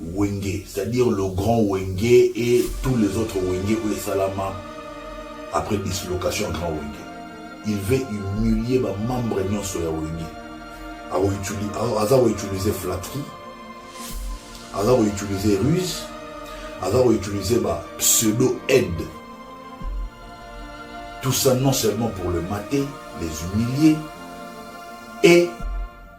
Wenge, c'est-à-dire le grand Wenge et tous les autres Wenge oyo esalama après dislocation ya grand Wenge. Il veut humilier ba membres nyonso ya Wenge. Aza ko utiliser flatterie, aza ko utiliser ruse, aza ko utiliser ba pseudo aide. Tout ça non seulement pour le mater, les humilier et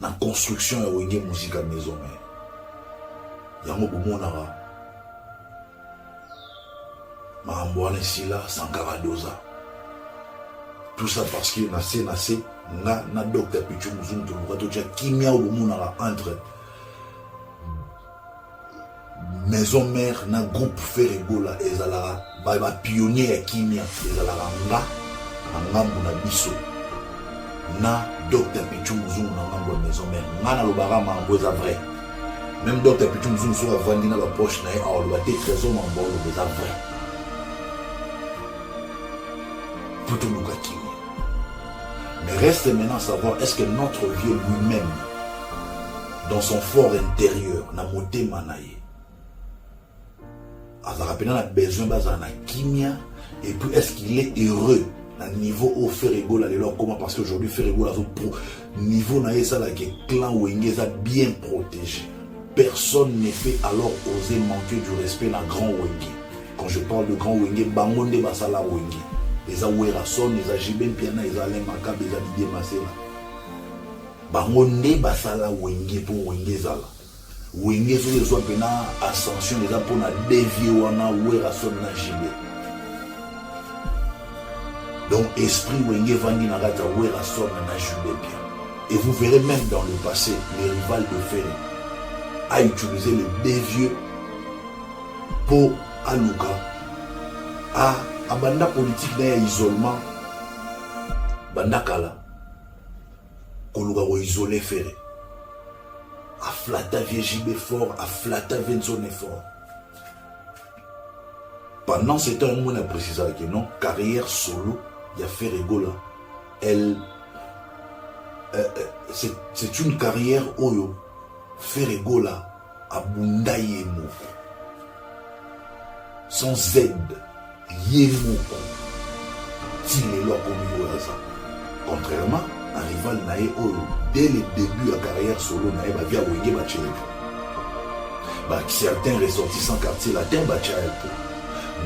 na construction ya wenge musica maison mère yango bomonaka makambo wana esila sankara doza tout ça parce que na se na se nga na docteur pichu muzungu toluka totya kimia oyo bomonaka entre maison mère na groupe Ferre Gola ezalaka ba, ba pionnier ya kimia ezalaka nga na ngambo na biso na Dr Pichu Muzungu na ngambo ya maison mère nga nalobaka mambo eza vrai même Dr Pichu Muzungu soki avandi na baproche na ye aoloba te trésor mambo oloba eza vrai mpo toluka kimia mais reste maintenant savoir est ce que notre vieux lui-même dans son fort intérieur na motema na ye azalaka mpena na besoin bazala na kimia et puis est ce qu'il est heureux na niveau oyo ferre egola lelo akoma parce que aujourd'hui ferre egola azo pro niveau na ye esalaka clan wenge eza bien protégé personne ne peut alors oser manquer du respect na grand wenge quand je parle de grand wenge bango nde basala wenge eza werason eza jibe mpiana eza alain makabe eza didie masela Bango nde basala wenge po wenge ezala wenge soki ezwa mpena ascension eza mpo na devie wana werrason na jb donc esprit wenge evandi na kati ya werrason na jb bien et vous verrez même dans le passé le rival de fere a utilisé le devieux mpo aluka a abanda politike na ya isolement banda kala koluka ko isoler Ferre aflata vie JB fort aflata vie Nzone fort pendant ce temps yango na précisaka que non carrière solo ya Ferre Gola elle euh, euh, c'est une carrière oyo Ferre Gola Abunda ye moko. Sans aide, ye moko. Ti lelo akomi oyo aza. Contrairement na rival na ye oyo dès le début ya carrière solo na ye bavia wenge baceleka. Ba certains ressortissants quartier latin batia ye po.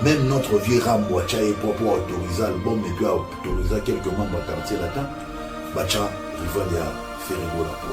Même notre vieux Rambo atia ye po po autoriser album et puis autoriser quelques membres ya quartier latin batia rival ya Ferregola po.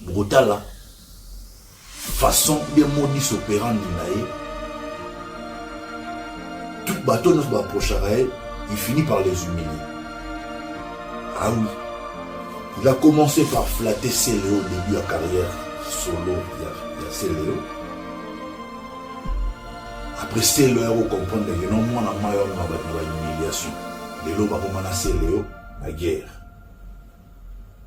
bokotala façon bien modis operandi na ye tout bato nyonso baapprochaka ye il finit par les humilier ah oui il a commencé par flatter celeo début ya carrière solo ya, ya celeo après celeo ya kocomprendre ke no mwana mai wana na bato na bahumiliation lelo bakomana celeo na guerre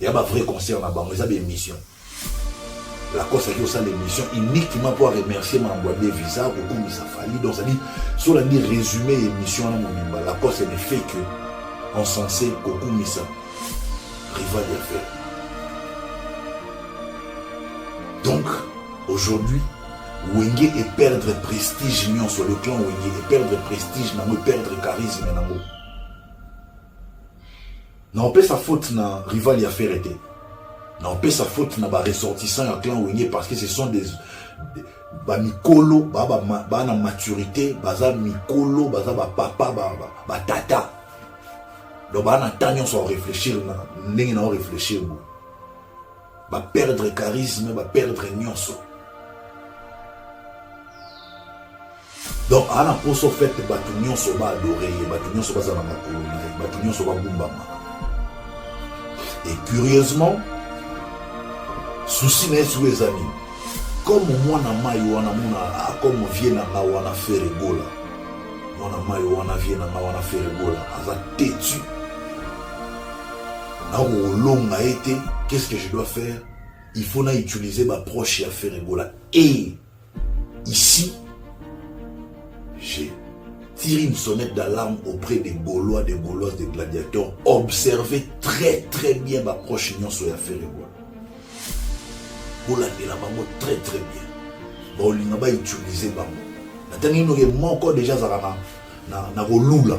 ya ba vrai concert na bango eza ba émission lacoste aki kosala émission uniquement mpo aremercie mambo ya devisa kokumisa fali donc cetadi so olandi résumé ya émission wana mobimba lacoste ne fait que encense kokumisa rival ya fer donc aujourd'hui wenge eperdre prestige nyonso le clan wenge eperdre prestige nango eperdre charisme nango Na opesa faute na rival ya Ferre te. Na opesa faute na ba ressortissants ya clan Wenge parce que ce sont des ba mikolo ba ba, ba, ba na maturité baza mikolo baza ba papa ba, ba, ba tata donc ba na temps nyonso ya réfléchir na ndenge na réfléchir boye ba perdre charisme ba perdre nyonso donc ana poso fete bato nyonso ba adore ye bato nyonso baza na makolo na ye bato nyonso bagumbama et curieusement susi na ye sikoyo eza nini comme mwana mai wana mona ah, comme vie na nga wana feregola mwana mai wana vie na nga wana feregola aza tetu nakolonga ye te qu'est ce que je dois faire il faut na utiliser ba proche ya ferre gola et ici j'ai tiré une sonnette d'alarme auprès des gaulois des gauloises des gladiateurs observez très très bien ba proche nyonso ya ferre gola bolandela bango très très bien baolinga ba utiliser bango natangi noke moko deja azalaka na, na, na kolula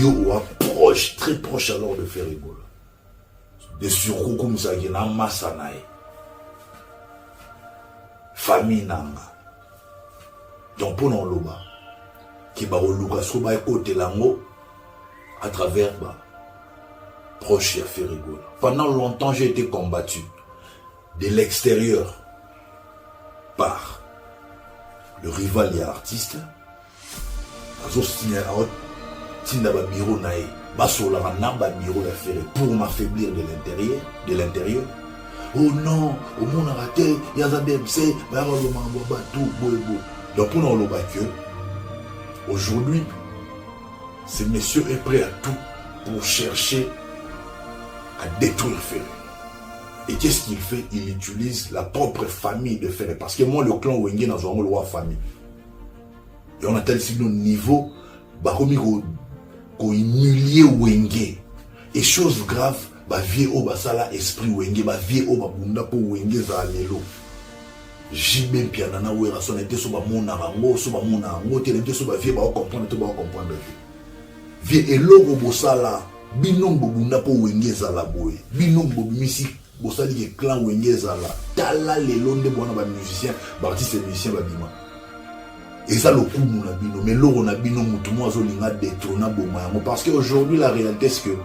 yo oa proche très proche alors de faire ebola de surcou komisaki na masa na ye famille na nga donc mpo na oloba ke bakoluka soko baekotela yango à travers ba proche ya ferigola pendant longtemps j'ai été combattu de l'extérieur par le rival ya artiste azo signer awa tinda ba bureau na ye basolaka na ba bureau ya ferre pour m'affaiblir de l'intérieur de l'intérieur oh non omonaka te ye aza bmc baya baloba makambo ya bato boye boye donc mpona oloba que aujourd'hui ce monsieur est prêt à tout pour chercher à détruire Ferre. Et qu'est-ce qu'il fait Il utilise la propre famille de Ferre. Parce que moi, le clan Wenge, n'a pas le roi famille. yango natalisi bino niveau bakomi kohumilie ko wenge et chose grave bavie oyo basala esprit wenge bavie oyo babunda mpo wenge ezala lelo jb mpiana na werrason ete so bamonaka yango so bamona yango te nete so bavie baocomprendre to baocomprendre te vie eloko bosala bino bobunda mpo wenge ezala boye bino bobimisi Bosali ke clan wenge ezala tala lelo nde bwana ba musiciens ba artistes musiciens babima eza lokumu na bino mais loko na bino mutu mo azolinga detrona boma yango parce que aujourd'hui la réalité c'est que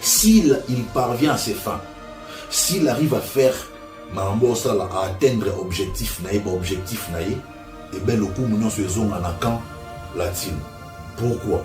s'il il parvient à ses fins s'il arrive à faire makambo osala à atteindre objectif na ye ba objectif na ye ebe eh lokumu nyonso ezonga na camp latino pourquoi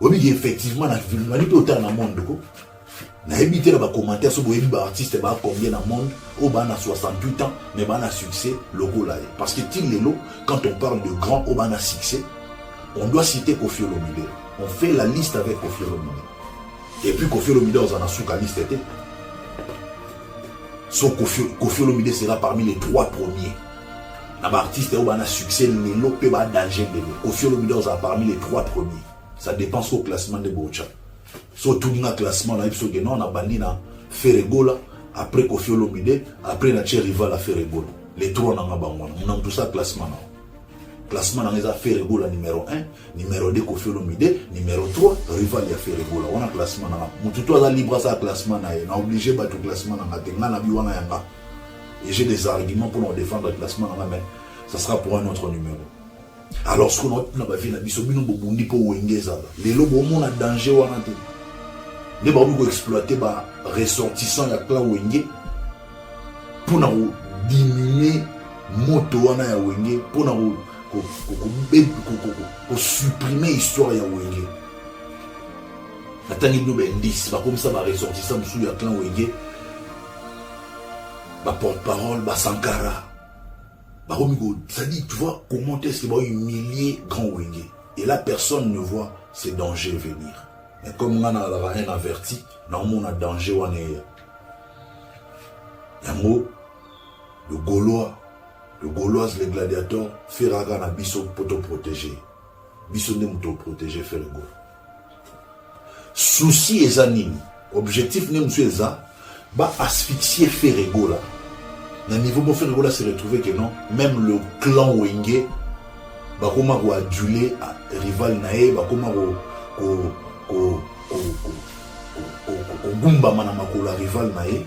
oyebi ke effectivement na filmali mpe otala na monde ko nayebi te na bacommentaire so boyebi baartiste baa combien na monde oyo baa na 68 ans mais baa na succès lokola ye parce que ti lelo quand on parle de grand oyo baa na succès on doit citer kofi olomide on fait la liste avec kofi olomide et puis kofi olomide oza na suka liste te so kofi olomide sera parmi les trois premiers na ba artistes oyo bana succès lelo mpe ba danger lelo kofi olomide ozala parmi les trois premiers ça dépend so classement nde bocha so otuni nga classement nayebi soki non nabandi na feregola après kofi olomide après na tie rival ya feregola les trois nanga bango wana mona moto sa classement nao classement nanga eza feregola numero 1 numero 2 kofi olomide numero 3 rival ya feregola wana classement nanga motu to aza libre asala classement na ye na oblige bato classement nanga te nga na bi wana yanga et j'ai des arguments pour nous défendre classement là mais ça sera pour un autre numéro alors ce qu'on a na vie na biso bino bobundi pour wenge ezala lelo bomona danger wana te nde bakomi koexploite ba ressortissant ya clan wenge mpo na kodiminue moto wana ya wenge mpo na kosupprime histoire ya wenge natangi bino baindice bakomisa baressortissant mosusu ya clan wenge ba porte parole ba sankara bakomi ko c'est-à-dire tu vois comment est-ce que ba humilier grand wenge et là personne ne voit ces dangers venir mais comme nga nazalaka rien averti naomona danger wana eya yango le gaulois le gauloise le gladiator feraka na biso mpo toprotege biso nde moto oprotege fergo souci eza nini objectif nde mosusu eza ba asphyxie ferre gola na niveau mpo ferre gola se retrouve que non même le clan wenge bakoma koadule ah, rival na ye bakoma kogumbama na makolo ya rival na ye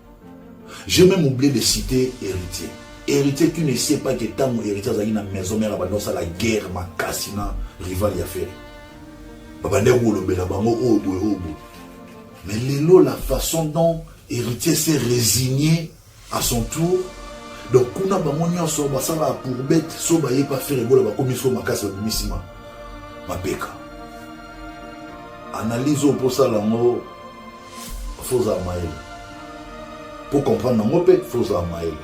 J'ai même oublié de citer Héritier. Héritier, tu ne sais pas que Tango Héritier a une maison mère abandon ça la guerre ma cassina rival ya ferre. Babande wolobela bango obo oh, obo. Oh, Mais lelo la façon dont Héritier s'est résigné à son tour donc kuna bango nyonso basalaka pour bete so baye pa ferre bola bakomi so makasi babimi nsima mapeka analyse oyo mposala yango faut ozala mayele po comprendre nango mpe faut ozala mayele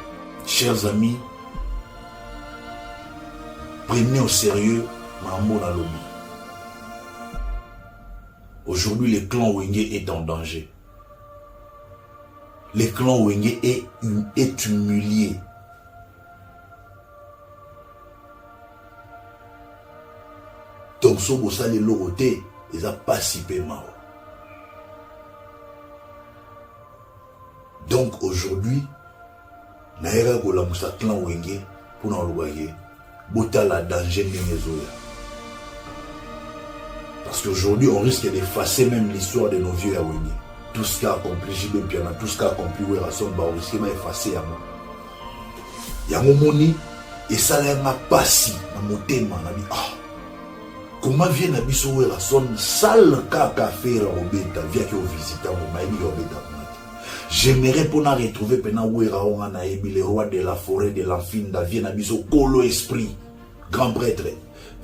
chers amis prenez au sérieux makambo na lobi aujourd'hui le clan wenge est en danger le clan wenge est, est humilié donc soki bosali eloko te eza mpasi mpe mawa donc aujourd'hui nayaka kolamusa clan wenge mpona koloba ye botala danger ndenge ezoya parce qu'aujourd'hui on risque d'effacer même l'histoire de nos vieux ya wenge tout ce qu'a accompli jb mpiana tout ce qu'a accompli werrason baoriske baefface yango yango moni esala ya nga pasi na motema na bi ah koma vie na biso werrason sale kaka fere obeta viaki ovisita ngo mayebi ya obeta kuna te j'aimerais mpo na retrouve mpena wera oyo nga nayebi le roi de la forêt de l'enfinda vie na biso kolo esprit grand prêtre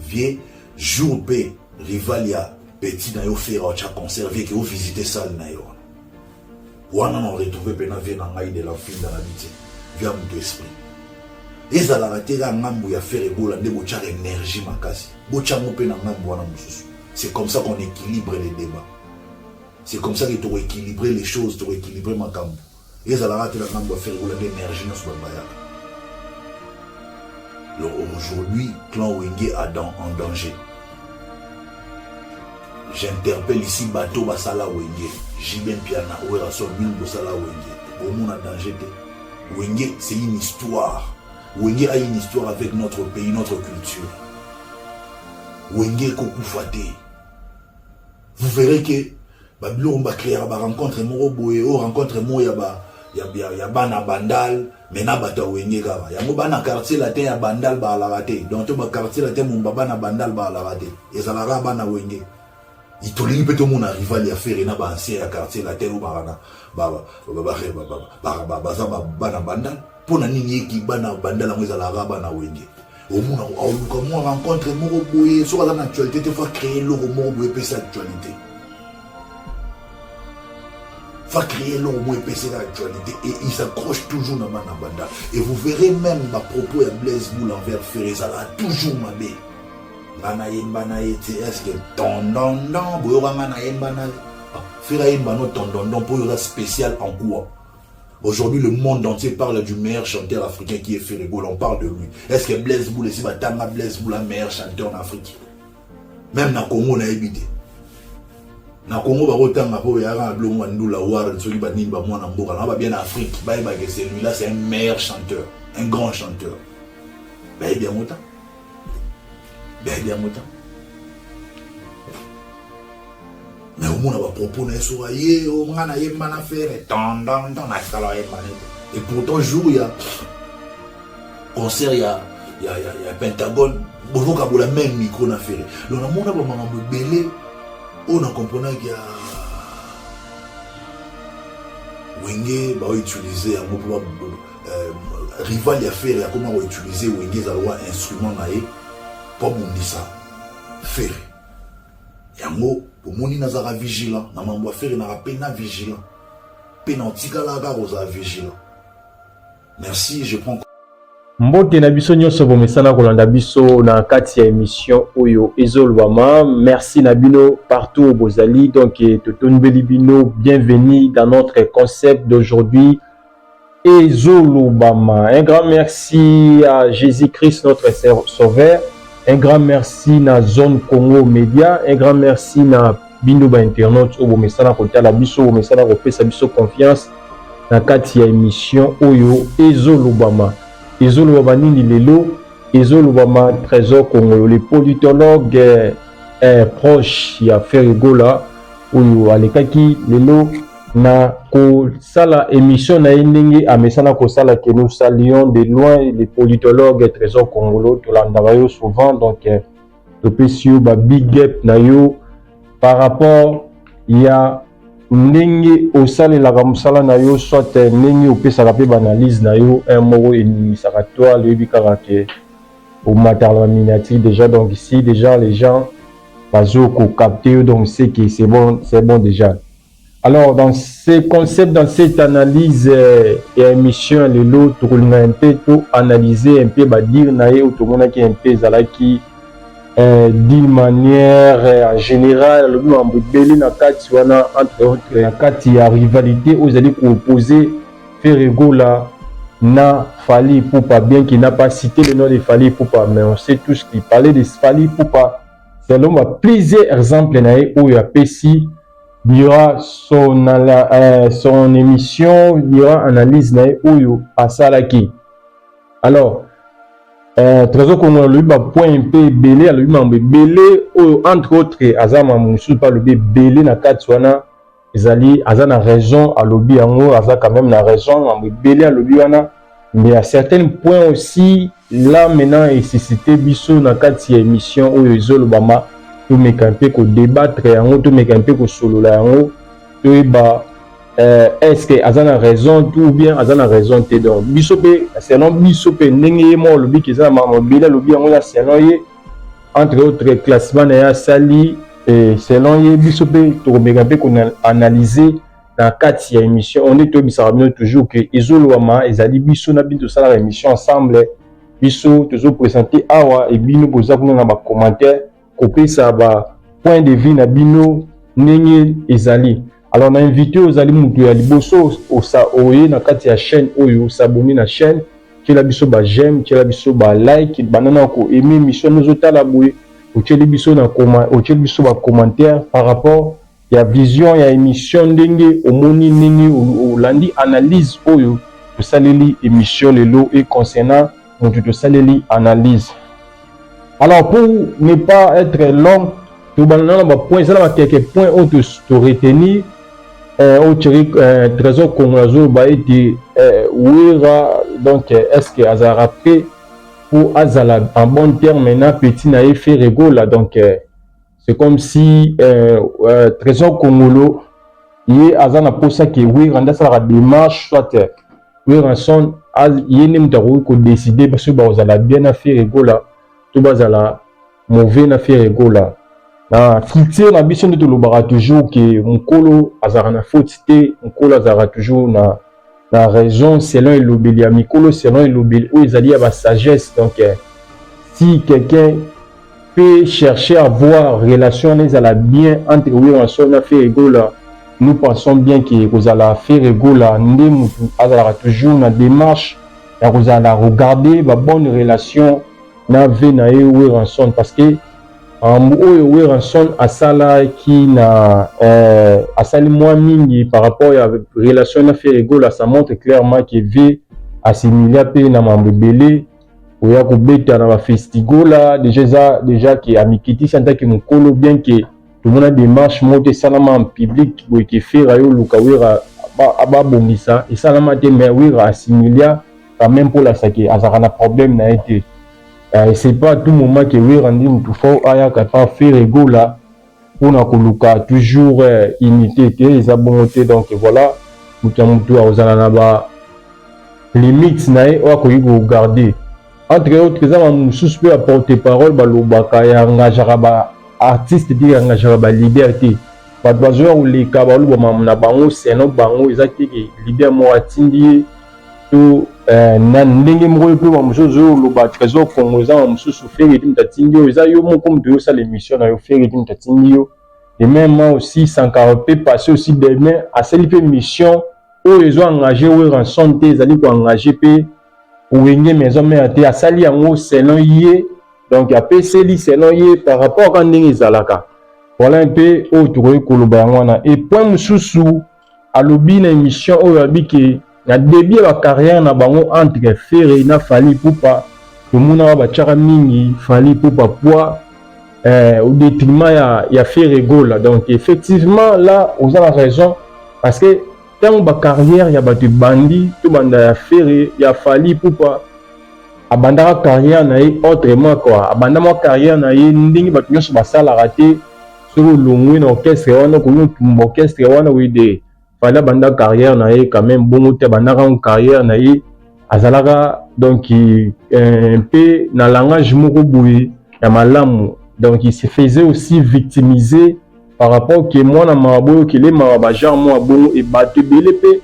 vie jour mpe rival ya petit na yo fere otya concert vie ke ovisite sale na yo wana na retrouve mpe na vie na ngai de lampinda na biti via moto esprit ezalaka te kaka ngambo ya fere ebola nde botyaka energie makasi botyango mpe na ngambo wana mosusu c'est comme ça qu'on équilibre les débats c'est comme ça que toko équilibre les choses toko équilibre makambo ezalaka te na ngambo ya fere ebola nde energie nyonso babayaka aujourd'hui clan wenge a dans, en danger J'interpelle ici bateau basala wenge JB Mpiana Werrason bino bosala wenge bomona danger te wenge c'est une histoire wenge a une histoire avec notre pays notre culture wenge ekokufa te vous verrez que babiloko bacreaka barencontre moko boye oyo rencontre moko ya ba ya, ya, ya bana bandal me na bato ya wenge kaka yango bana quartier latin ya bandal baalaka te donc to baquartier latin mumba bana bandal baalaka te ezalaka bana wenge tolingi mpe tomona rival ya fere na baancien ya quartier latin oyo bakana baza bana bandal mpo na nini eki bana bandal yango ezalaka bana wenge omona aoluka mwa rencontre moko boye soki aza na actualité te fa créer eloko moko boye epesa actualité va créer l'homme moins baisser l'actualité et il s'accroche toujours dans Manabanda. Et vous verrez même ma propos à Blaise Boule envers Ferré, ça va toujours m'abbé. Nana yemba na ete est-ce que tondondon boyoka nga na yemba na ah, Ferré yemba no tondondon pour yoka spécial en quoi Aujourd'hui, le monde entier parle du meilleur chanteur africain qui est Ferre Gola. On parle de lui. Est-ce que Blaise Boule, si Batanga Blaise Boule, meilleur chanteur en Afrique Même dans le Congo, on a évité. na congo bakotanga mpo yaka na bilongo ya ndula warren soki banini bamwana mboka na babia na afrique bayebake celui-là c'est un meilleur chanteur un grand chanteur bayebi yango ta bebe ya mota me omona bapropos na ye soka ye o nga nayemba na fere tandantan nasala ayemba na ye et pourtant jour ya concert ya ya, ya, ya pentagone bozokabola meme micro na fere donc namona bamakambo ebele oyo na comprenaki ya wenge baoutilize yango mpo Euh, rival ya Ferre akoma ko utiliser Wenge za loi instrument na ye po bundisa Ferre. Yango omoni nazaka vigilant na mambo ya Ferre naka pe na vigilant. Pe na otikalaka kozala vigilant. Merci, je prends mbote na biso nyonso bomesana kolanda biso na kati ya emission oyo ezolobama merci na bino partout bozali donc eh, totonbeli bino bienvenue dans notre concept d'aujourd'hui Ezo lobama. Un grand merci à Jesus Christ notre sauveur. Un grand merci na zone Congo Media. Un grand merci na bino ba internautes oyo bomesana kotala biso, bomesana kopesa biso confiance na kati ya emission oyo ezo lobama. Ezo lobama nini lelo? Ezo lobama Trésor Kongolo, le politologue eh, eh, proche ya Ferre Gola oyo alekaki lelo na kosala emission na ye ndenge amesana kosala que nous saluons de loin le politologue trésor congolo tolandaka yo souvent donc euh, topesi yo ba big up na yo par rapport ya ndenge osalelaka mosala na yo soit euh, ndenge opesaka mpe baanalyse na yo un moko eningisaka toi loyebi kaka ke omatala baminati déjà donc si déjà les gens bazo kokapte yo donc c'est que c'est bon, c'est bon déjà Alors dans ce concept, dans cette analyse euh, ya émission ya lelo tokolinga un peu to analyser un peu badire na ye oyo tomonaki un peu ezalaki euh, d'une manière euh, en général alobi mambo ebele na kati wana entre autres na kati ya rivalité oyo ezali koopose Ferre Gola na Fally Ipupa bien qu'il n'a pas cité le nom de Fally Ipupa mais on sait tous qu'il parlait de Fally Ipupa selon ba plusieurs exemples na ye oyo apesi Il y aura son, euh, son émission, il y aura analyse na ye oyo asalaki. Alors, euh, Trésor Congo alobi ba point mpe ebele, alobi mambo ebele oyo entre autres aza mambo mosusu mpe alobi ebele na kati wana ezali aza na raison alobi yango aza quand même na raison mambo ebele alobi wana Mais à certains points aussi, là maintenant et suscité biso na kati ya émission oyo ezolobama tomeka mpe ko débattre yango tomeka mpe kosolola yango toyeba euh, est ce que aza na raison tout bien aza na raison te donc biso mpe selon biso mpe ndenge ye moko alobi ke eza na mamobele alobi yango ya selon ye entre autres classement na ye asali selon ye biso mpe tokomeka mpe koanalyse na kati ya émission on est toyebisaka bino toujours que ezolobama ezali biso na bino tosalaka émission ensemble biso tozo présenter awa et bino boza kuna na ba commentaires kopesa ba point de vue na bino ndenge ezali alors na invité ozali moto ya liboso osa oye na kati ya chaîne oyo osabone na chaîne tiela biso ba j'aime tiela biso ba like banda na ko aime émission nozotala boye otyeli biso na otyeli biso ba commentaire par rapport ya vision ya emission ndenge omoni ndenge olandi analyse oyo tosaleli emission lelo et concernant mutu tosaleli analyse alors pour ne pas être long tobanda na ba point eza na ba quelques points oyo to, to retenir euh, oyo chéri euh, trésor congo azoloba ete euh, wera donc euh, est ce que azalaka prêt mpo azala en bon terme na petit na ye ferregola donc euh, c'est comme si euh, euh, trésor congolo ye aza na posa ke wera nde asalaka démarche soit werrason ye nde moto akoki kodeside basoki bakozala bien na fere gola to bazala mauvais na fere gola na culture na biso nde tolobaka toujours ke mokolo azalaka na faute te mokolo azalaka toujours na na raison selon elobeli ya mikolo selon elobeli oyo ezali ya ba sagesse donc eh, si quelqu'un peut chercher à voir relation wana ezala bien entre werrason na ferre gola nous pensons bien ke ekozala ferre gola nde motu azalaka toujours na démarche ya kozala na regarder ba bonne relation na vie na ye werrason parce que Makambo oyo Werrason asalaki na eh, asali mwa mingi par rapport ya relation na Ferre Gola, ça montre clairement que Vieux asimilia mpe na makambo ebele oya kobeta na ba festigola deja eza deja ke amikitisi en tant que mokolo bien que tomona démarche moko te esalama en public boye ke Ferre ayo luka Werra babongisa esalama te mais Werra asimilia quand même mpo olasake azalaka na problème na ye te Eh, c'est pas tout moment que Werra ndi mutu fort ayaka pa Ferre Gola pona koluka toujours eh, unité te eza bongo te donc voilà mutu ya mutu akozala na ba limite na ye oyo akoki kogarde entre autres eza bamosusu mpe baporte parole balobaka yangajaka baartiste te yangajaka balider te bato bazoya koleka balobama na bango seno bango eza teke lider moko atindi ye to eh, na ndenge moko mpe ba mosusu ozoloba trésor congo eza ba mosusu feredi moto atindi yo eza yo moko moto yosala émission na yo feredi moto atindi yo et même aussi sankara mpe passé aussi demain asali mpe mission oyo ezo engage weranson te ezali koengage mpe wenge maison mère te asali yango selon ye donc apeseli selon ye par rapport ka ndenge ezalaka voilà mpe oyo tokoki koloba yango wana e point mosusu alobi na emission oyo abi ke na debut ya ba carrière na bango entre Ferre na Fally Ipupa tomonaka batiaka mingi Fally Ipupa poids eh, au détriment ya, ya Ferre Gola donc effectivement là oza na raison parce que ntango ba carrière ya bato ebandi tobanda ya Ferre ya Fally Ipupa abandaka carrière na ye autrement quoi abanda mwa carrière na ye ndenge bato nyonso basalaka te soki olongwe na orchestre wana okomi otumba orchestre wana wede fali abanda carrière na ye quand même bongo te abandaka ngo carrière na ye azalaka donc euh, mpe na langage moko boye ya malamu donc il se faisait aussi victimiser par rapport ke mwana mawa boyokele mawa bagenre mwa bongo e bato ebele mpe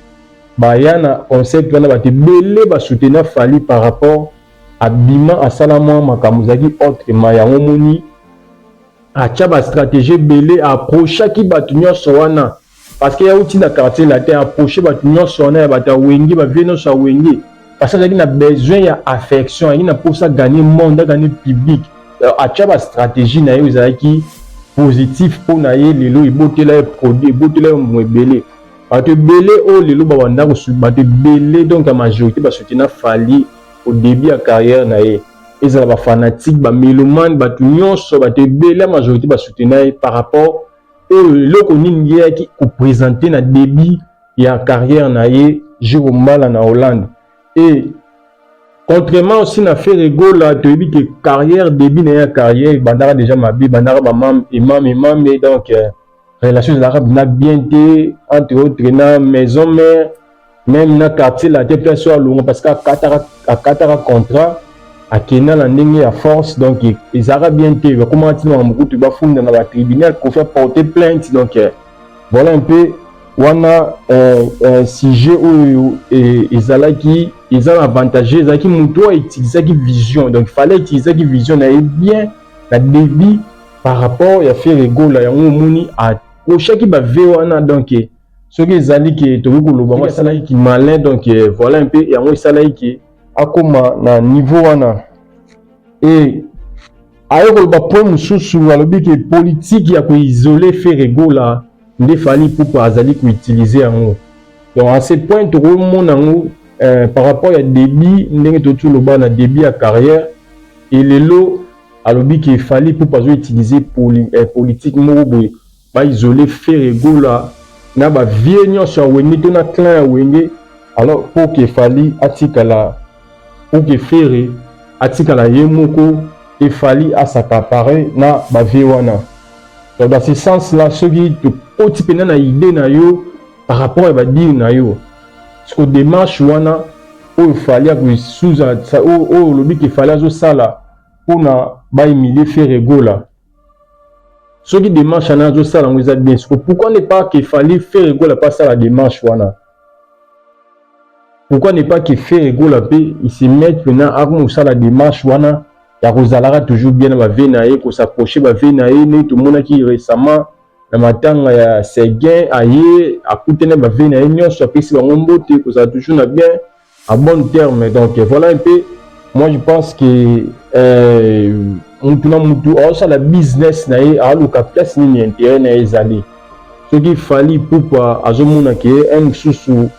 baya na concept wana bato ebele basoutenir fali par rapport abima asala mwa makambo ezalaki autrement yango moni Atia ba strategie ebele a approchaki batu nionso wana parce que ye awuti na quartier latin a approche batu nionso wana ya batu ya wenge ba vieux nionso ya wenge parce que azalaki na besoin ya affection azalaki na posa a gagner monde a gagner public atia ba strategie na ye ezalaki positif mpo na ye lelo ebotela ye produit ebotela ye mbuma ebele bato ebele oyo lelo babanda bato ebele donc ya majorité basutena fali au début ya carrière na ye ezala ba fanatique ba melomane bato nyonso bato ebele ya majorité basutena ye par rapport oyo eloko nini ye yaki kopresente na début ya carrière na ye jiro mbala na hollande e contrairement aussi na fere gola toyebi ke carrière début na ye ya carrière ebandaka déjà mabe ebandaka bamame emame emame donc euh, relation ezalaka na bien te entre autres na maison mère même na quartier latin mpe aso alonga parce que akataka akataka contrat akenda na ndenge ya force donc ezalaka bien te bakomaka ntina makambo kutu bafunda na batribunal pour faire porter plainte donc euh, voilà un peu wana euh, euh, sujet oyo euh, ezalaki eza na avantage ezalaki moto oyo utilisaki vision donc fallait utilisaki vision na ye bien na debut par rapport ya Ferre Gola yango omoni a prochaki ba vie wana donc soki ezali ke tokoki koloba ngo asalaki ki malin donc voilà un peu yango esalaki ke akoma na niveau wana et aye koloba point mosusu alobi ke politique ya koisole Ferre Gola nde Fally Ipupa azali ko utiliser yango donc en ce point toko mona yango eh, par rapport ya début ndenge totu loba na début ya carrière et lelo alobi ke Fally Ipupa azo utiliser poli, eh, politique moko boye ba isoler Ferre Gola na ba vieux nyonso ya Wenge to na clan ya Wenge alors pour que Fally atikala ou que Ferre atikala ye moko et Fally asakapare na ba vieux wana. Donc dans ce sens là soki tokoti pena na idee na yo par rapport ya ba dire na yo siko demarche wana oyo Fally akosuza oyo olobi ke Fally azosala mpona ba humilie Ferre Gola soki demarche wana azosala yango eza bien siko pourquoi ne pas ke Fally Ferre Gola mpe asala demarche wana pourquoi ne pas que Ferre Gola pe il se met maintenant akoma kosala démarche wana ya kozalaka toujours bien na bavie na ye kosaproche bavie na ye nde tomonaki récemment na matanga ya Seguin aye akutani na bavie na ye nyonso apesi bango mbote kozala toujours na bien En bon terme donc voilà un peu moi je pense que euh, mutu na mutu aosala business na ye aoluka place nini intérêt na ye ezali soki fali pupa azomona ke un mosusu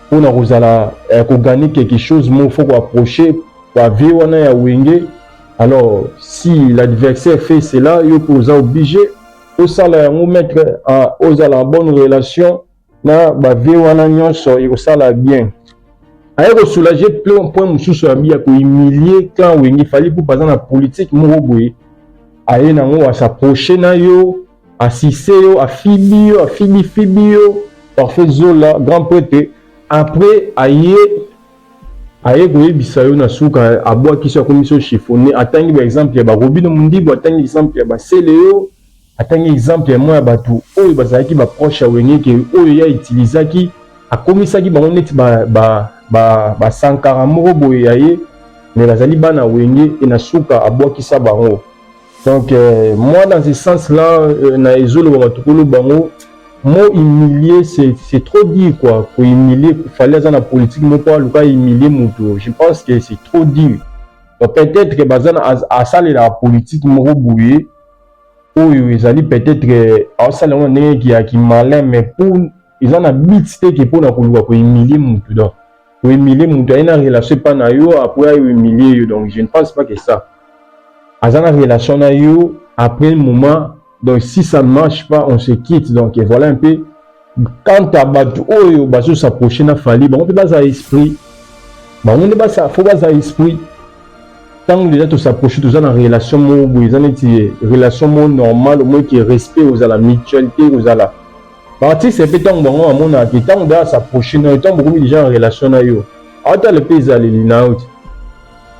mpona kozala eh, kogane quelque chose moko fo koapproche bavie wana ya wenge alors si l'adversaire fait cela yo mpe oza oblige osala yango maître ah, ozala en bonne relation na ba vie wana nyonso ekosala bien aye ko soulager plein point mosusu ya bia ko humilier clan wenge fali pour baza na politique moko boye aye nango a s'approcher na yo asise yo afibi yo afibi fibi yo parfait zola grand prêtre après aye aye koyebisa yo na suka abwakisi akomisi yo chiffonne atangi baexemple ya barobino mondibu atangi exemple ya basele yo Atangi exemple ya mwa ya bato oyo bazalaki ba proche ya Wenge ke oyo ye a utilisaki akomisaki bango neti ba, ba, ba, ba sankara moko boye ya ye me bazali bana Wenge e na suka abwakisa bango donc euh, moi dans ce sens là euh, na ezoloba bato kolo bango mot humilier c'est trop dur quoi ko humilier fallait aza na politique moko aluka humilier moto je pense que c'est trop dur donc peut-être que baza na asalelaka politique moko boye oyo ezali peut-être asala yango ndenge ya ki malin mais pour eza na but te ke mpona koluka kohumilie mutu donc kohumilie mutu aye na relation epa na yo apres ayo humilie yo donc je ne pense pas que ça aza na relation na yo après moment donc si ça ne marche pas on se quitte donc voilà un peu quant à bato oyo bazo s'approcher na fali bango mpe baza esprit bango nde basa fo baza esprit ntango deja tosapproche toza na relation moko boye eza neti relation moko normale omoi ke respect kozala mutuel te kozala baartiste mpe ntango bango bamonaka te ntango deja asapproche nayo ntango bokomi deja na relation na yo atala mpe ezaleli na yo te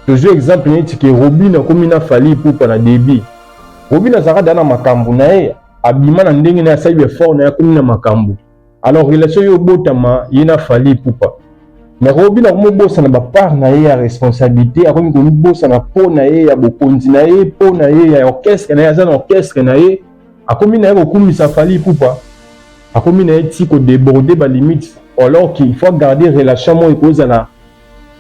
tozwi exemple neti ke robin akomi na fali ipupa na debit robin azalaka deja na makambo na ye abima na ndenge na asali effort na yakomi na makambo alors relation yo obotama ye na fali pupa mais robi na komobosana bapart na ye ya responsabilité akomi komibosana mpo na ye ya bokonzi na ye mpo na ye ya orchestre na ye aza na orchestre na ye akomi na ye kokumisa fali pupa akomi na ye ti kodeborde balimite alors qu'il faut garder relation moko ekozala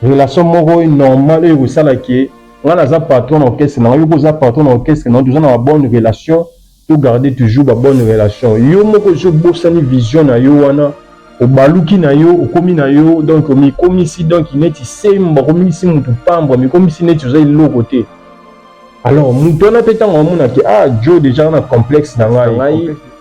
relation moko normale oyo ekosala ke nga naza patron na orchestre na yo pe oza patron na orchestre na yo toza na ba bonne relation to garder toujours ba bonne relation yo moko esi obosani vision na yo wana obaluki na yo okomi na yo donc omikomisi donc neti sembo akomisi mutu pambwa mikomisi neti oza eloko te alors mutu wana pe ntango amona ke ah jo deja na complexe na ngai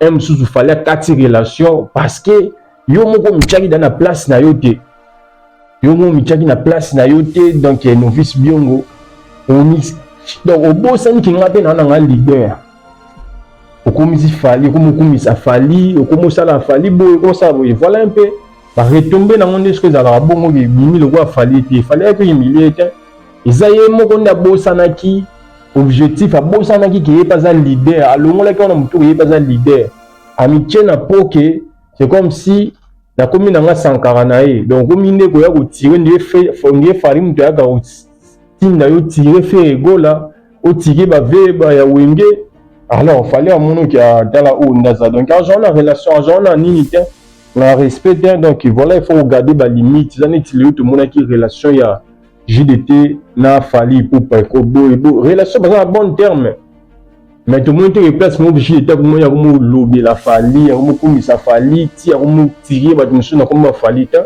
un mosusu fallait akati relation parce que yo moko omityaki da na place na yo te yo moko omityaki na place na yo te donc eh, novice biongo omis donc obosani ke ngai mpe naa na ngai leader okomisi fali okomi okumisa fali okomi osala fali boye okomi osala boye voilà un peu baretombe nango nde soki ezalaka bongo bimi lokola fali te fali yaki oyimilie te eza ye moko nde abosanaki objectif abosanaki ke ye mpe aza leader alongolaki wana motu ye mpe aza leader amitie na po ke c'est comme si nakomi na nga sankara na ye donc okomi nde koya kotire ndie fari moto ayaka kotinda yo tire fere egola otike baveba ya wenge alors fale amonoki atala oyo nde aza donc azwa na relation azwa na nini te na respect te donc voilà il faut kogarde balimite eza neti lelo tomonaki relation ya JDT na Fally Ipupa eko boye bo relation baza na bon terme mais tomoni te place moko JDT akomoni akomolobela Fally akomokumisa Fally ti akomotire bato mosusu na kombo ya Fally te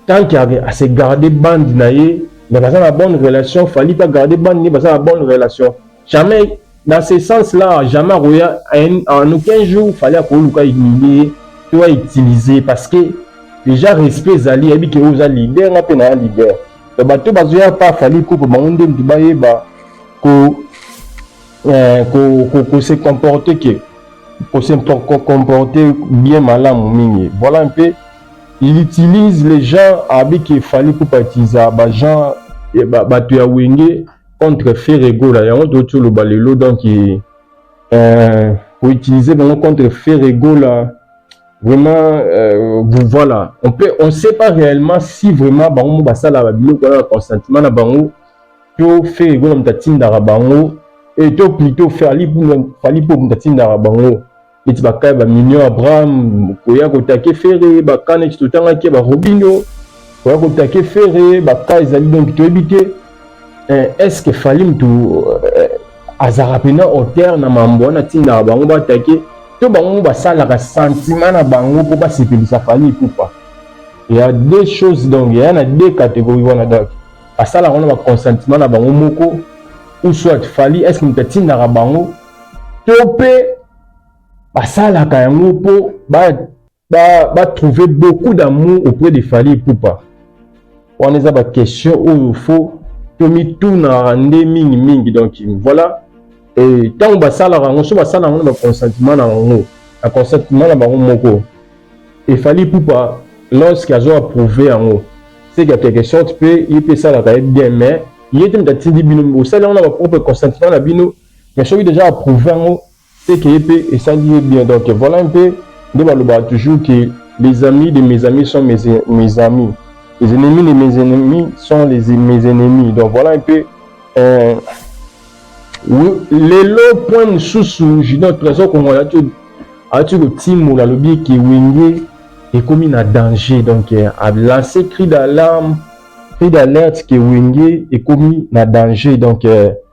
tant que ase garde bande na ye mais baza na bonne relation Fally mpe agarde bande na ye baza na bonne relation jamais dans ce sens là jamais akoya en aucun jour fallait akoluka humilier to autiliser parce que déjà respect ezali ayebi ke oza leader nga mpe na ya leader to bato bazoya pa fali kupe bango nde moto bayeba ko eh, ko, ko, ko se comporter ke ko se comporter bien malamu mingi voilà un peu il utilise les gens abi ke fali kupe atisa bagen bato ya wenge contre Ferre Gola yango touti oloba lelo donc euh, koutiliser bango contre Ferre Gola vraiment euh, voilà on peut on sait pas réellement si vraiment bango mo basala ba biloko wana na consentement na bango to Ferre Gola moto atindaka bango et to plutôt Fally Ipupa Fally Ipupa moto atindaka bango neti bakaya ba mignon abraham koya kotake fere baka neti totangaki ba robinho koya kotake fere baka ezali donki toyebi te eh, est ce que fali mutu eh, azalaka mpena auteur na mambo wana atindaka bango batake to bango basalaka sentiment na bango mpo basepelisa fali ipupa ya deux choses donc ya na deux catégorie wana donc basalaka wana baconsentiment na bango moko ou soit fali est ce que moto atindaka bango to mpe basalaka yango mpo batrouve ba, ba beaucoup d'amour auprès de fali epupa wana eza baquestion oyo fo tomitunaka nde mingi mingi donc voilà ntango basalaka yango so basala yango na baconsentiment na yango na consentiment na bango moko efali pupa lorsque azo approuve yango c'est qu'à quelque sorte mpe ye mpe esalaka ye bien mais ye te moto atindi bino osali yango na bapropre consentiment na bino mais soki deja approuve yango c'est que ye mpe esali ye bien donc voilà un peu nde balobaka toujours que les amis de mes amis sont mes, mes amis les ennemis de mes ennemis sont les, mes ennemis donc voilà un peu euh, lelo point mosusu junior trésor kongo ayaki kotimola alobi eke wenge ekomi na danger donc euh, alance cri d'alarme cri d'alerte ke wenge ekomi na danger donc euh,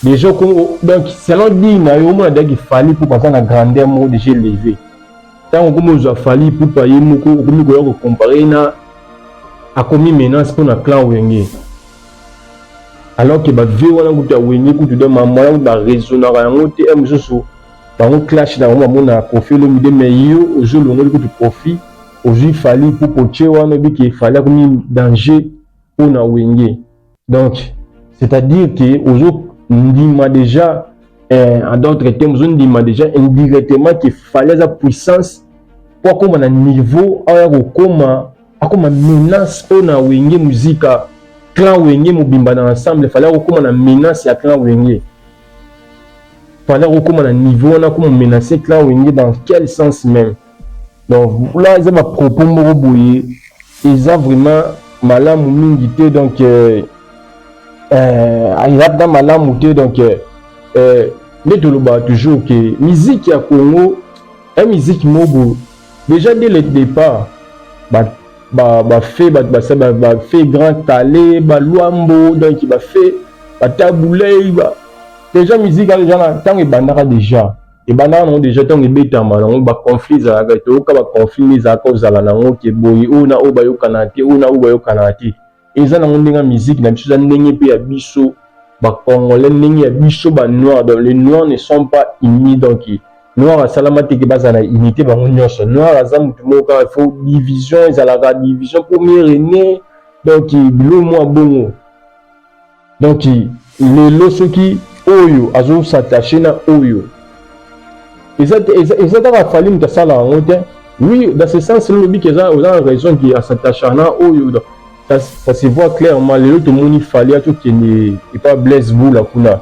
Dejo Congo, donc selon dit na yo mona daki Fally pour passer na grandeur moko déjà levé. Tant que comme ozwa Fally pour pas ye moko okomi koya ko comparer na akomi menace pour na clan Wenge. Alors que ba vieux wana kutu ya Wenge kutu de maman wana ba raisonnaka yango te un mosusu bango clash na bango bamona Koffi Olomide mais yo ozo longoli kutu Koffi ozwi Fally pour poche wana oyebi ke Fally akomi danger pour na Wenge. donc c'est à dire que ozo ndima déjà eh, en d'autres termes ozo ndima déjà indirectement que fallait aza puissance mpo akóma na niveau aya kokóma akóma menace mpo na wenge muzika clan wenge mobimba na ensemble fallait akokóma na menace ya clan wenge fallait akokóma na niveau wana akóma menace clan wenge dans quel sens même Donc là eza ba propos moko boye eza vraiment malamu mingi te donc euh, euh, eza mpenza malamu te donc euh, euh nde tolobaka toujours ke musique ya congo ya musique mobo déjà dès le départ bafe bato basala bafe grand kale baluambo donc bafe batabulei ba... déjà musique eza na ntango ebandaka déjà ebandaka nango deja ntango ebetama nango baconflit ezalaka toyoka baconflit nde ezalaka ozala nango ke boye oyo na oyo bayokanaka te oyo na oyo bayokanaka te eza nango ndenge ya miziki na biso eza ndenge mpe ya biso bacongolais ndenge ya biso banoir donc le noir ne sont pas unis donc noir asalama te ke bazala na unité bango nyonso noir aza motu moko kaka fo division ezalaka division mpo mire ne donc bilo mwa bongo donc lelo soki oyo azo s'attacher na oyo eza eza, eza kaka fali moto asala yango te oui dans ce sens lobi keza oza na raison ki asattacha na oyo ça, ça se voit clairement lelo tomoni fali atokende epa blaise bula kuna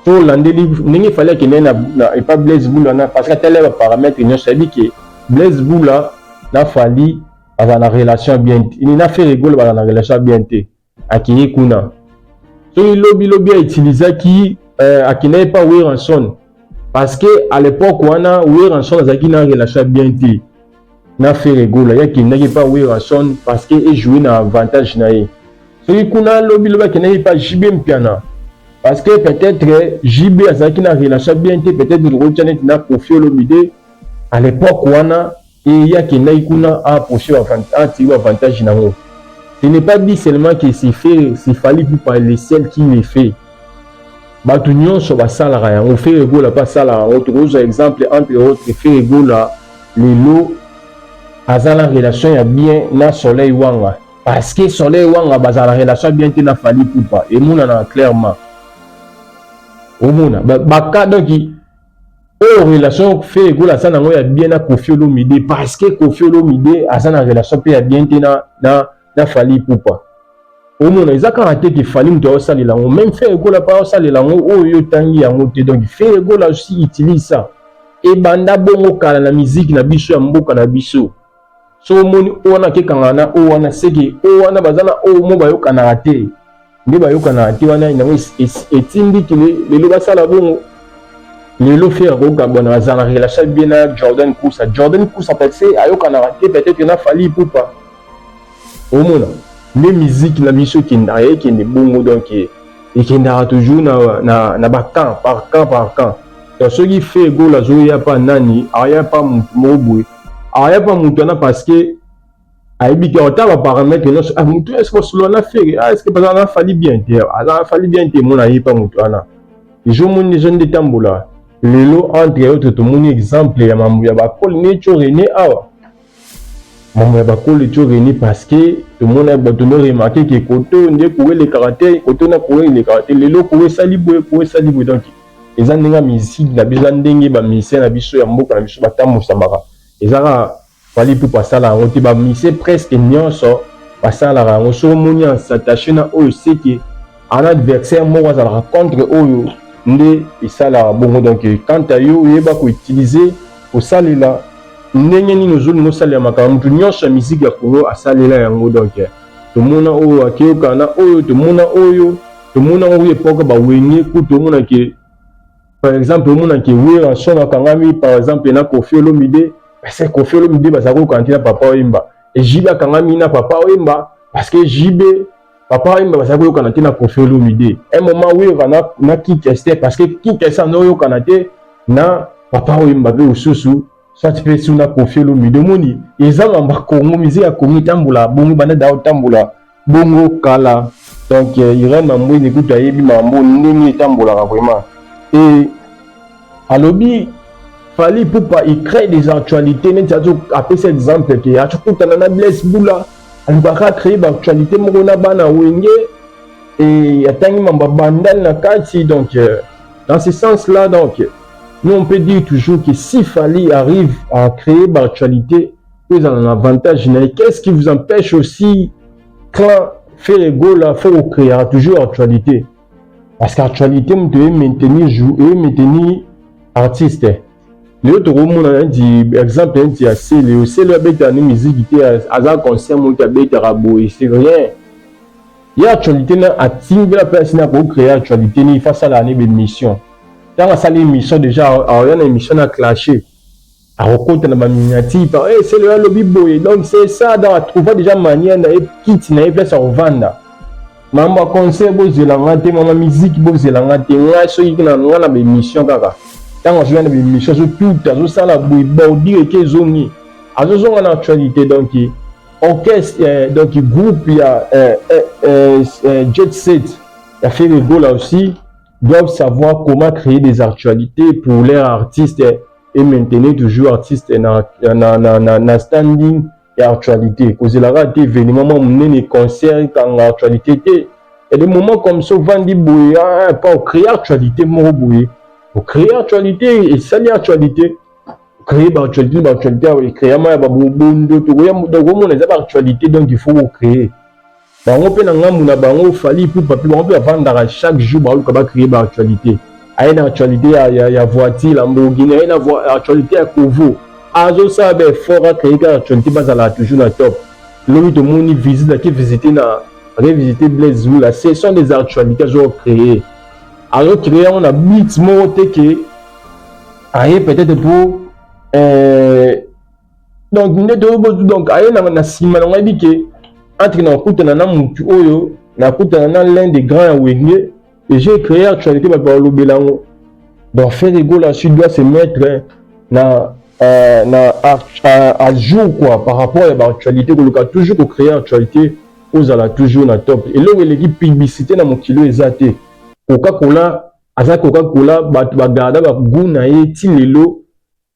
tolandeli ndenge fali akende na, na epa blaise bula na parce que atala baparametre nyonso ayebi ke blaise bula na fali baza na relation bien te na ferre golo baza na relation bien te akei kuna soki lobi lobi autilisaki euh, akendaki mpa weranson parce que à l'époque wana weranson azalaki na relation bien te na fere gola ye akendaki mpa weranson parce que ejoue na avantage na ye soki kuna lobi lobi akendaki mpa jb mpiana parce que peut-être jb azalaki na relation bien te peut-être tokotia neti na kofi olomide à l'époque wana Et ye akendaki kuna a approche atiki bavantage na yango ce n'est pas dit seulement que c'est fait c'est fallait pupa le seul qui le fait bato nyonso basalaka yango fere gola mpe asalaka yango tokozwa exemple entre autres fere gola lelo aza na relation ya bien na soleil wanga parce que soleil wanga bazala relation bien te na fali pupa emonanaka clairement omona baka donki oyo relation Ferre Gola aza nango ya bien na Koffi Olomide parce que Koffi Olomide aza na relation mpe ya bien te na, na, na Fally Ipupa omona eza kaka te ke Fally moto aosalela yango meme Ferre Gola mpe aosalela yango oyo yo otangi yango te donc Ferre Gola aussi utilise ça ebanda bongo kala na miziki na biso ya mboka na biso so omoni o wana akekanga na o wana seke o wana baza na o mo bayokanaka te nde bayokanaka te wana yango etindiki lelo basala bongo lelo fere akokabwana baza na relation bien na jordan kusa jordan kusa pese ayokanaka te peut-être na fali ipupa omona nde miziki na biso ekendaka ekende bongo donc ekendaka toujours na, na, na bacamp par camp par camp donc soki fe gola azoya pa nani aya pa motu moko boye aya pa moto wana parce que ayebi te ata baparametre nyonso ah, moto wana esike osolola na fere ah, esike baza na fali bien te aza fali bien te mona ye pa moto wana ezomoni ezo nde etambola lelo entre autres tomoni exemple ya mambo ya bakole neco rene awa mambo ya bakole co rene parce que tomona bato no remarke ke koto nde koelekaka te koto na koelekaka te lelo koesali boye koesali boye donc eza ndenge ya musique na biso, eza ndenge ba musiciens na biso ya mboka na biso batambusamaka. Eza kaka Fally Ipupa asala yango te, ba musiciens presque nyonso basalaka yango. Soki omoni en s'attacher na oyo seke en adversaire moko azalaka contre oyo nde esalaka bongo. Donc quant à yo oyeba ko utiliser kosalela ndenge nini ozolinga osalela makambo moto nyonso ya musique ya Congo asalela yango. Donc tomona oyo akeyoka na oyo tomona oyo tomona ngo ye poka ba wenge kutu omona ke par exemple omona ke wera son akangami par exemple na kofi olomide parce que kofi olomide bazali kokanga te na papa oyemba ejibe akangami na papa oyemba parce que jibe papa oyemba bazali koyokana te na kofi olomide un moment wera na, na kikeste parce que kikeste ando oyokana te na papa oyemba mpe mosusu soit mpe su na kofi olomide omoni ezanga bakongo mize ya kongo etambola bongo banda da otambola bongo kala. Donc euh, Irène Mambwezi kutu ayebi mambo ndenge etambolaka vraiment et alobi Fally Ipupa il crée des actualités neti azo apesa exemple ke azokutana na Blaise Bula alukaka créer ba actualité moko na bana wenge et atangi mambo bandal na kati donc euh, dans ce sens là donc nous on peut dire toujours que si Fally arrive à créer ba actualité mpo ezala na avantage na ye qu'est ce qui vous empêche aussi clan fere egola fo kocreaka toujours actualité parce que actualité moto eye maintenir jour eye maintenir artiste lelo tokomona neti exemple neti ya sele yo sele abetaka ni miziki te aza concert moto abetaka boye c'est rien ye actualité na atindela mpe asina kocreye actualité ni ifa asalaka ne bemission ntango asali émission déjà aoya na émission na clashe akokota na baminiati par hey, eh, selo alobi boye donc c'est ça donc atrouva déjà manière na ye kiti na ye place ya kovanda mambo ya concert bozela nga te mama miziki bozela nga te ngai soki na nga na baémission kaka ntango azoya na baémission azotuta azosala boye bordure eke ezongi azozonga na actualité donc orchestre eh, donc groupe ya eh, eh, eh, eh, jet set ya ferregola aussi doivent savoir comment créer des actualités pour leur artiste eh, e maintenir toujours artiste na, na, na, na, na standing ya actualité kozela kaka te événement mwa monene concert ekanga actualité te ya des moments comme ça ovandi boye ah, mpo ocréer actualité moko boye ocréer actualité esali actualité créer baactualité baactualité awa ekreama ya babondo tokoya tokomona eza baactualité donc il faut kocréer Bango pe na ngambu na bango Fally Ipupa pe bango pe bavandaka chaque jour baluka ba creer ba actualite. Aye na actualite ya, ya, ya voiture Lamborghini, aye na actualite ya Kovo. Azosala ba effort a creer ka actualite bazala toujours na top. Lobi tomoni visite ake visiter na ake visiter Blaise Lula. Ce sont des actualités azo creer. Azo creer yango na but moko te que aye peut-être pour euh, donc nde toyobotu donc aye na nsima nango ayebi ke entre nakutana na mutu oyo nakutana na l'un des grands ya wenge et j'ai créé actualité bato balobela yango donc frère egola su doit se mettre na euh, na à, à, à jour quoi par rapport ya baactualité koluka toujours kocréer actualité ozala toujours na top eloko eleki publicité na mokili oyo eza te coca cola aza coca cola bato bagarda bagu na ye ti lelo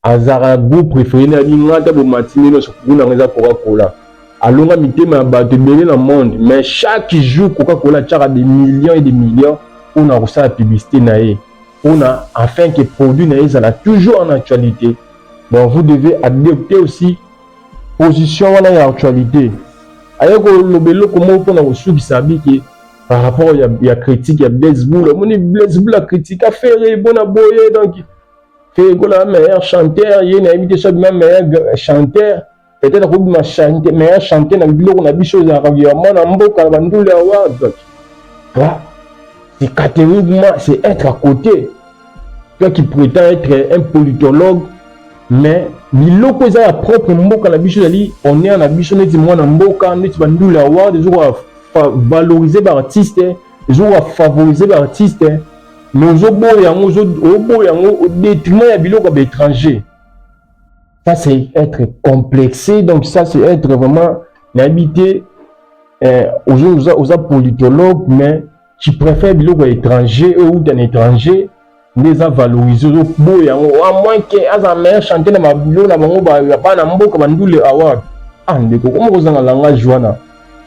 Azalaka groupe prefere na bi nga ata bomati ndenge nyonso gout na nga eza coca cola alonga mitema ya bato ebele na monde mais chaque jour coca cola atiaka des millions et des millions mpona kosala publicité na ye mpona afin que produit na ye ezala toujours en actualité donc vous devez adopter aussi position wana ya actualité aye koloba eloko moko mpona kosukisa abi ke par rapport ya, ya critique ya blaise bula omoni blaise bula critika ferre bona boye donc Fegola meilleur chanteur ye na yebi te soki na meilleur chanteur peut-être akobima chante meilleur chanteur na biloko na biso ezalaka ya mwana mboka na bandule ya ward toi c'est catégoriquement c'est être à côté toi qui prétend être un politologue mais biloko eza ya propre mboka na biso ezali honneur na biso neti mwana mboka neti bandule ya ward ezokoka valoriser baartiste ezokoka favoriser baartiste mais ozo boya yango ozo oboya yango au détriment ya biloko ya étranger ça c'est être complexé donc ça c'est être vraiment nayebi te eh, oza, oza, oza politologue mais tu préfère biloko ya étranger oyo outa na étranger nde eza valorise ozoboya yango a ah, moins ke aza meilleur chantier na babilo na bango bana mboka bandule award ah ndeko koma kozanga langage wana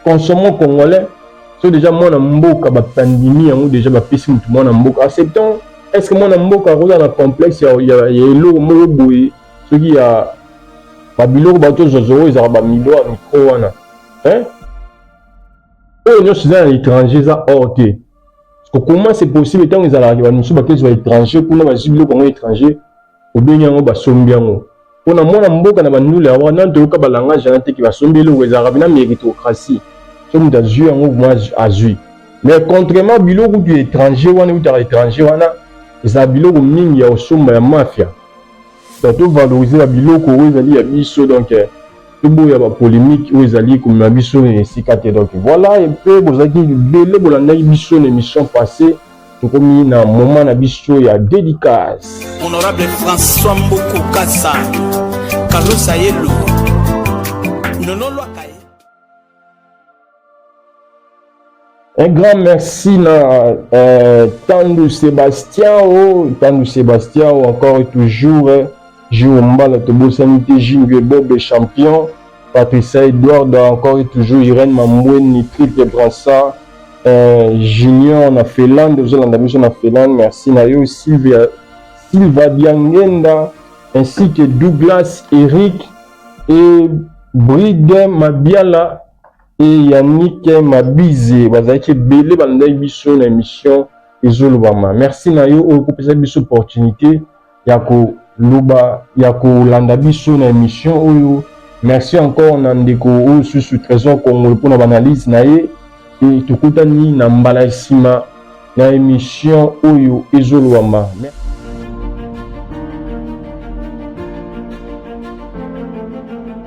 consommons congolais so deja mwana mboka bandimi yango deja bapesi motu mwana mboka acceptons est ce que mwana mboka akozala na complexe ya eloko moko boye soki ya babiloko bato tozozwa oyo ezalaka bamido ya mikro wana oyo nyonso eza na étranger eza or te comment c'est possible ntango ezalaka bato mosusu bakezwa étranger kuna bazwi biloko yango étranger obengi yango basombi yango mpo na mwana mboka na bandule yango nano toyoka balangage wana teke basombi eloko ezalaka mpena meritocratie so moto azwi yango mwa azwi mais contrairement biloko kutu ya étranger wana eutaka étranger wana ezala biloko mingi ya kosomba ya mafia donc tovalorize babiloko oyo ezali ya biso donc eh, toboya bapolémike oyo ezali komema biso na esika te donc voilà mpe bozalaki ebele bolandaki biso na émission passée tokomi na moment na biso ya dedicace honorable françois mbuku kasa kalusa yelu nololwaka ye Un grand merci na euh, Tandu Sébastien, oh, Tandu Sébastien, oh, encore et toujours, eh, jour mbala tobosani te Jingue Bobe champion. Patricia Edward encore et toujours Irène Mambweni triple brassard euh, Junior na Finlande ozolanda biso na Finlande merci na yo Sylvia Silva Diangenda ainsi que Douglas Eric et Bride Mabiala et Yannick Mabize bazalaki ebele balandaki biso na émission ezolobama merci na yo oyo kopesa biso opportunité ya koloba ya kolanda biso na emission oyo merci encore na ndeko oyo susu trésor congolo mpona baanalyse na ye e tokutani na mbala ya nsima na emission oyo ezolobama